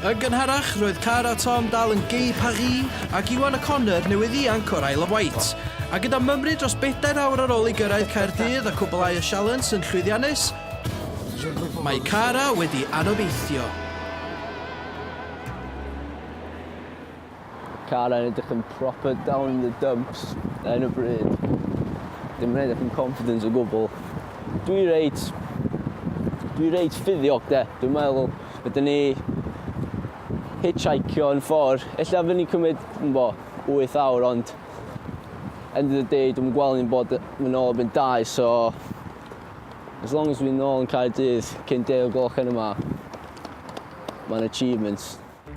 Yn gynharach, roedd Cara Tom dal yn gei Paris ac Iwan O'Connor newydd ianc o'r Isle of Wight. A gyda mymryd dros bedair awr ar ôl i gyrraedd Caerdydd a cwblhau y sialens yn llwyddiannus, mae Cara wedi anobeithio. Car yn edrych yn proper down in the dumps ar hyn o bryd. Dim yn edrych yn confident o gwbl. Dwi reit... Dwi reit ffyddiog de. Dwi'n meddwl ydyn ni hitchhikio yn ffordd. Ella fy ni cymryd, yn bo, 8 awr ond end of the day dwi'n gweld ni'n bod yn ôl erbyn 2 so as long as dwi'n ôl yn cael dydd cyn 10 o gloch yn yma mae'n achievement.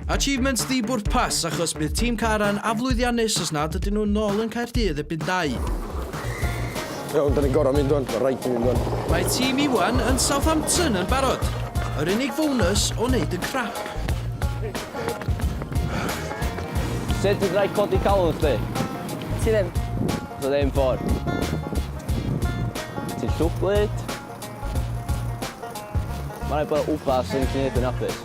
Achievements ddi-bwrpas achos bydd tîm Caran aflwyddiannus os nad ydyn nhw'n nôl yn Caerdydd erbyn dau. Iawn, da ni'n gorau mynd o'n, rhaid i mynd o'n. Mae tîm Iwan yn Southampton yn barod. Yr unig bonus o wneud yn crap. Sut ti'n rhaid codi calon chdi? Ti ddim. Ti ddim ffordd. Ti'n llwglyd. Mae'n rhaid bod upas yn lle yn hapus.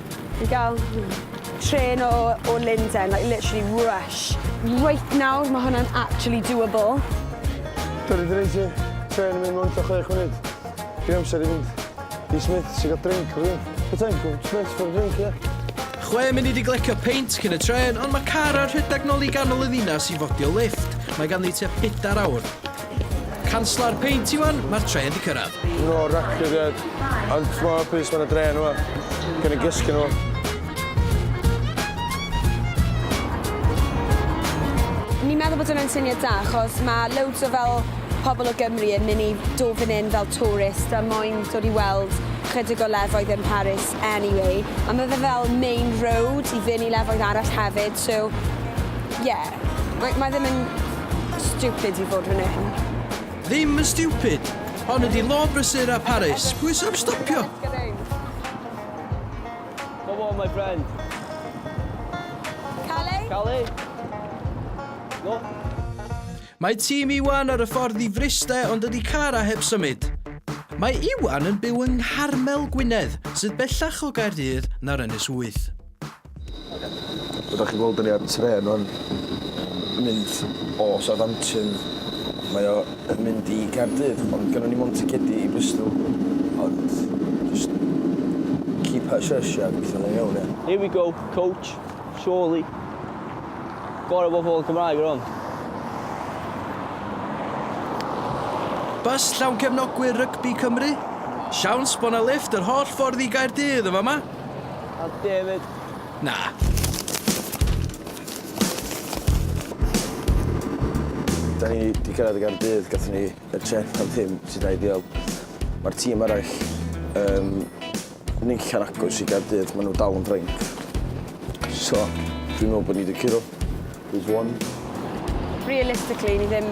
I gael trên o o Lundain, like literally rush. Reit nawr, mae hwnna'n actually doable. Dwrnod yr un ti, trên yn mynd mewn ta chwech munud. Dwi'n amser i fynd i Smith, sy'n gael drink o rhywun. Be ti'n gwybod, Smith for a drink, ie? Yeah? Chwe munud i glecio peint cyn y tren, ond mae car ar rhedeg nôl i ganol y ddinas i fodio lift. Mae ganddi tua pedair awr. Canslau'r peint Iwan, mae'r trên di cyrraedd. No record yet, ond mor hapus fan y dre nhw, gan y gysgu nhw. Ni'n meddwl bod hwnna'n syniad da, achos mae loads o fel pobl o Gymru yn mynd i dod fan hyn fel tourist a moyn dod i weld chydig o lefoedd yn Paris anyway. A mae fe fel main road i fynd i lefoedd arall hefyd, so yeah. Mae, mae ddim yn stupid i fod fan hyn. Ddim yn stupid! Hon ydi law brysur a Paris. Pwy sy am stopio? Come on, my friend. Cali? Cali? No? Mae tîm Iwan ar y ffordd i Fryste ond dydy car a heb symud. Mae Iwan yn byw yng Ngharmel, Gwynedd, sydd bellach o Gaerdydd na'r Ynys Wyth. Fel dach chi'n gweld dan ni ar y trên rwan yn mynd o Southampton mae o yn mynd i Caerdydd ond gynnon ni mond ticedi i Bristol ond just keep her shush a gweithio fe'n iawn ie? Here we go, coach, surely. Gorau bod pobl Cymraeg ar hwn. Bws llawn cefnogwyr rygbi Cymru? Siawns bod 'na lifft yr holl ffordd i Gaerdydd yn fama? A David. Na. Da ni wedi cyrraedd y Gardydd, gatho ni y trip am ddim sy'n da ideal. Mae'r tîm arall um, neilla'n agos i Gardydd, maen nhw dal yn ffrainc. So, dwi'n meddwl bod ni wedi curo. There's one. Realistically, ni ddim...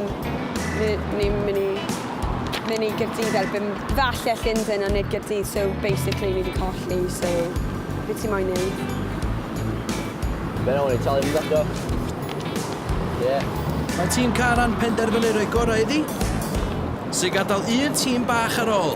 ni'n mynd i... mynd i Gyrdydd erbyn... Falle Llundain a nid Gyrdydd, so basically ni wedi colli, so... Be ti moyn ei? Fe na o'n i talu mynd eto. Yeah. Mae tîm Caran penderfynu rhoi gorau iddi. Sy'n gadael un tîm bach ar ôl.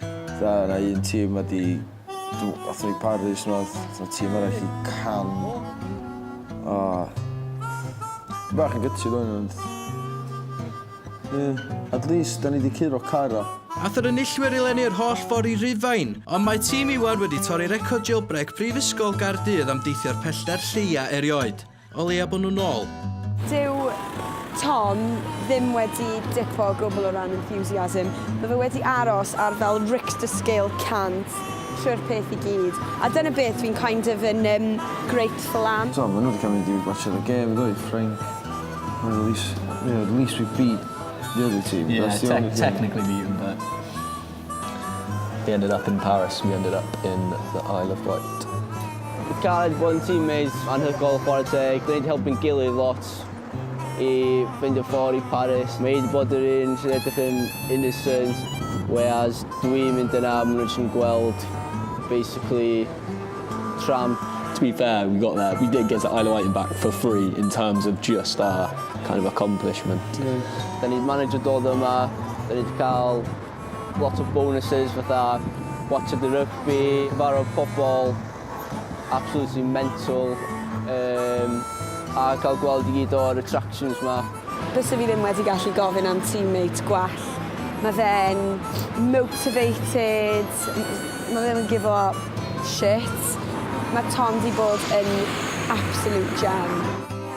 Fatha o' 'na un tîm wedi do- athon ni Paris nath t'o' tîm arall i Cannes a dwi bach yn gutted ŵan ond ie at least 'dan ni 'di curo Cara. Ath yr enillwyr i lenni yr holl ffor i Rufain, ond mae tîm Iwan wedi torri record jailbreak Prifysgol Gaerdydd am deithio'r pellter lleia erioed. O leia bod nhw nôl! Dyw Tom ddim wedi dipo o gwbl o ran enthusiasm. Mae fe wedi aros ar fel Richter scale 100 trwy'r peth i gyd. A dyna beth dwi'n kind of yn um, grateful am. Tom, maen nhw wedi cael mynd i watch the game, ddoe, Ffrainc. Mae the least, you know, the least we beat the other team. Yeah, te technically beat them, but... He ended up in Paris, we ended up in the Isle of Wight. Cael bod yn teammates anhygoel chwarae teg, dan ni 'di helpu'n gilydd lot i ffeindio ffordd i Paris. Mae hi 'di bod yr un sy'n edrych yn innocent whereas dwi'n mynd yna a maen nhw jyst yn gweld basically tramp. To be fair, we got there, we did get to Isle of Wight and back for free in terms of just our kind of accomplishment. Dan ni 'di managio dod yma, dan ni 'di cael Lot of bonuses fatha Watch of the Rugby, cyfarfod pobl absolutely mental um, a cael gweld i gyd o'r attractions ma. Bysa fi ddim wedi gallu gofyn am teammate gwell. Mae fe'n motivated, mae fe'n yn give up shit. Mae Tom di bod yn absolute gem.